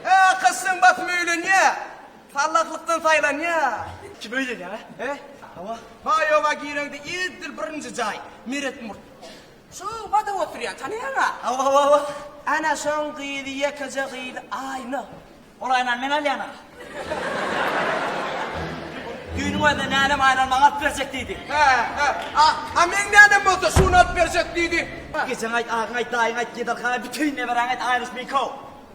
He, kyssyň batyny öýlenýä. Sallaklykdan saýlanýa. Kim öýlenýä? He? Hawa. Baýowa gireňde edil birinji jaý, Meret murt. Şu badam oturýan, tanaýaň-a? Hawa, hawa, hawa. Ana şoň gyzy, ýekeje gyzy Aýna. Ol Aýnany men alýan-a. Düýnüň özünde nänem Aýnany maňa alyp berjek diýdi. He, he. A, a meň nänem bolsa şuny alyp berjek diýdi. Ejeň aýt, agyň aýt, daýyň aýt, gedelhaý, bütin neberäňe aýt Aýnuş meňki-ow.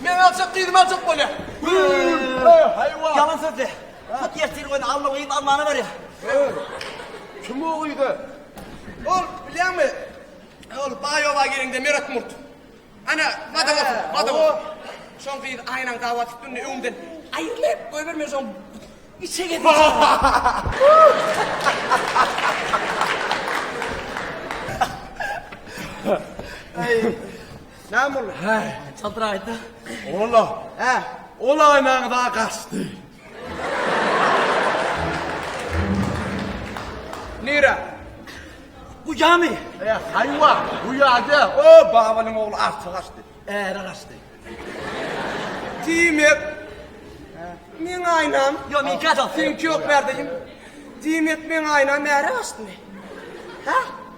Meni aljak gyzymy aljak bolýa. Haýwan. Ýalan sözli. Hut ertir göni Alla gyz Allana berýär. Kim o gyza? Ol bilýäňmi? Ol baý oba gelende Meret Murt. Ana, bada bol, bada bol. Şoň gyz aýnaň dawa tutdundy öňden. Aýrylyp goýberme şoň. Içe gezdi. Aý. Näme boldy? Hä, çadraýdy. Ola. Hä, ola aýnaňy da gaçdy. Nira. Bu ýamy. E, haýwa, bu ýada. O, babalyň ogly arça gaçdy. Äre gaçdy. Diýmek, men aýnam. Ýok, men gaçam. Sen köp berdiň. Diýmek, men aýnam äre gaçdymy? Hä?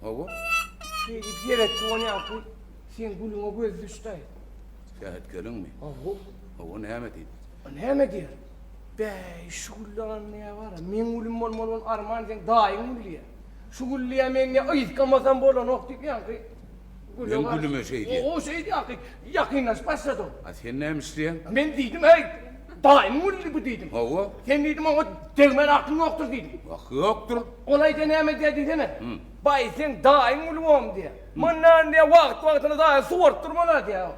Hawa. Şeýdip seretdi ony ýaňky seň gülüňe göz düşdi-aý. Sähet gelinmi? Hawa. Hawa näme diýdi? Näme diýer? Bäý, şu gülli alanda ýa bar-a, meň gülüm bolmaly bolan arman seň daýyň gülli-ýa. Şu gülli ýa meň ýa ysgamasam bolanok diýip ýaňky. Men Gülüme şeý diýen. Gowy şeý diýýäňki, ýakynlaşyp başladyň. A sen näme isleýäň? Men diýdim, Heý, daýymyň gülüdi bu diýdim. Hawa. Sen diýdim, oňa degmäne akyň ýokdur diýdim. Aky ýokdur. Ol aýda näme diýýär diýsene. Baý, seň daýyň güli bom diýýär. Mundan diýýär, wagt-wagtyna daýyň suwaryp durman-a diýýär.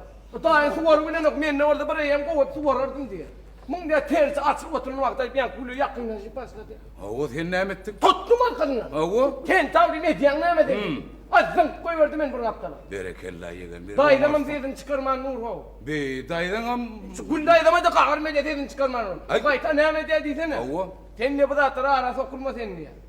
Daýyň suwaryp bilenok, mende bolsa bir eýýäm gowy suwarardym diýýär. Muňda tersi açyk oturan wagty aýdýan güli ýakynlaşyp başlady. Hawa, sen näme etdiň? Tutdum arkasyndan. Hawa. Sen tagzym edýäň näme sen? Hum. A, zyňyp goýberdi meni bir gapdala. Berekella, ýegen, bir oňarsyň. Daýzamam sesini çykarman dur, how. Bi, daýzaňam. Şu Gül daýzama-da gaharym edýär sesini çykarman ol. Aý. Gaýta näme edýär diýsene. Hawa. Sen diýýär bu zatlar ara sokulma sen diýýär.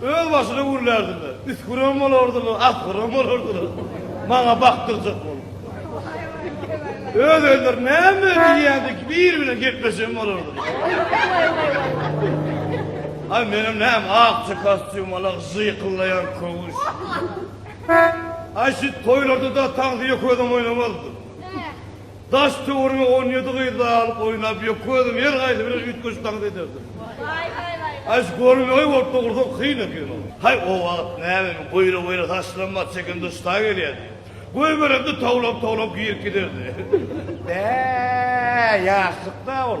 Özbaşyna gürlärdiler. Üsgürem bolardylar, asgyrem bolardylar. Maňa bakdyrjak bolup. Öz özleri näme diýýändigi kibi biri bilen gepleşen bolardylar. Aý menem näme akja kostýum alak žyýkyldaýan köwüş. Aý şit toýlarda-da taňsyýa közem oýnamazdyk. Daş töwerege on ýedi gyzly alyp oýnap ýökge özüm her gaýsy bilen üýtgeşip tans ederdim. Aý şu görmegeý bolup da gursak kyn ekeni. Haý o wagt näme boýra boýra saçlaram bar çeken duşda gelýärdi. Goýberende towlap towlap girip giderdi. Bäh ýaşlykda ol.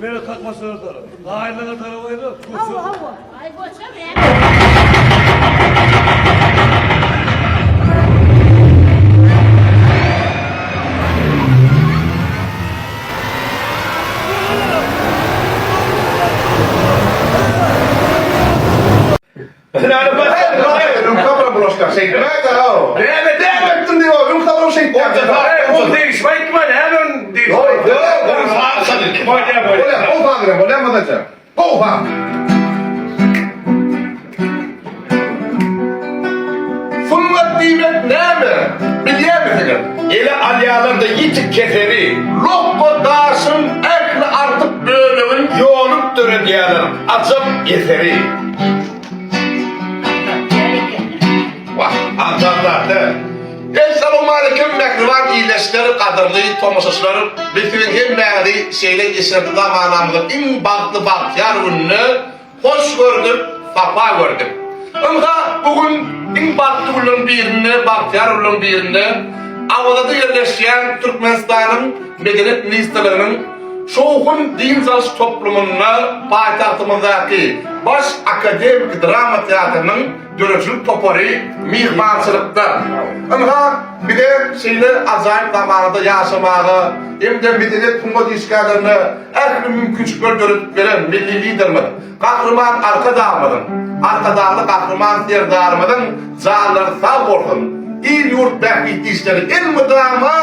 Mele kakmaçlara tarap. Gaýylara tarap aýla. Hawa, hawa. Aý goçam, Sungat diýmek näme, bilýärmisiňiz? Ele alýarlar-da ýitik keseli. Lokma daşyň ähli artyk bölegini ýolup döredýärler, ajap eseri. Assalamualeýkum mähriban ildeşler, gadyrly tomaşaçylar. Biz siziň hemmäňizi şeýle eşretli zamanamyzyň iň bagtly bagtyýar gününde hoş gördük, sapa gördük. Ynha, bu gün iň bagtly günleriň birinde, bagtyýar günleriň birinde Awazada ýerleşýän Türkmenistanyň Medeniýet ministrliginiň Şowhun dynç alyş toplumynda paýtagtymyzdaky Baş akademiki drama teatrynyň döredijilik topary myhmançylykda. Ynha, bize şeýle ajaýyp zamanada ýaşamaga hem-de medeniýet-sungat işgärlerine ähli mümkinçilikleri döredip beren milli Liderimiz Gahryman Arkadagymyzyň, Arkadagly Gahryman Serdarymyzyň janlary sag bolsun, il-ýurt bähbitli işleri elmydama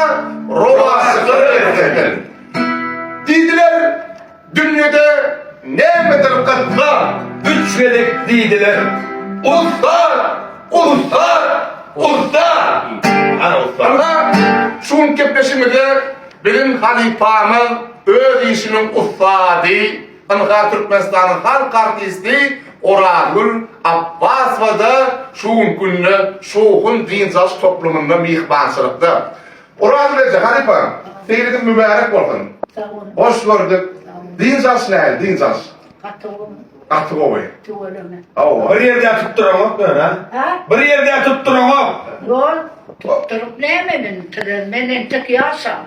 rowaçlyklara eredesin! Diýdiler, dünýede nämedir gyssat. Üç gezek diýdiler, Ussat! Ussat! Ussat! Ana ussat! Ana, şu günki gepleşigimizde biziň halypamyz öz işiniň ussady, Ynha, Türkmenistanyň halk artisti Orazgül Apbasowa-da şu günki günde Şowhun dynç alyş toplumynda myhmançylykda. Orazgül eje, halypa, seýliňiz mübärek bolsun! Sag boluň. Hoş gördük. Dynç alyş nähili, dynç alyş? Gaty gowy. Gaty gowy. Tüweleme. Hawa. Bir ýerde-ä tutduraňok men, a? Hä? Bir ýerde-ä tutduraňok. Ýol, tutduryp näme meni? Türer, men entek ýaşam.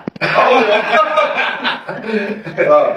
Hawa.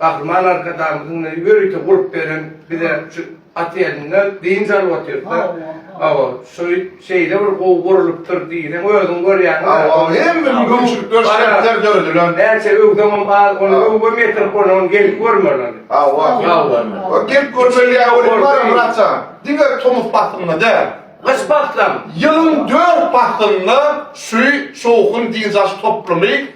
Gahryman Arkadagymyzyň bize ýörite gurup beren bize şu aty elinde dynç alyp otyrka hawa şu şeýle bir gowy gurlupdyr diýseň özüň görýäňiz hawa hemme mümkinçilikler şertler döredilen näçe öwsemem az ony öwgem ýetirip bolmaz gelip görmeli hawa hawa gelip görmeli ýa öwrüm bar muratja diňe tomus paslynda däl gyş paslynda ýylyň dört paslynda şu şowhun dynç alyş toplumy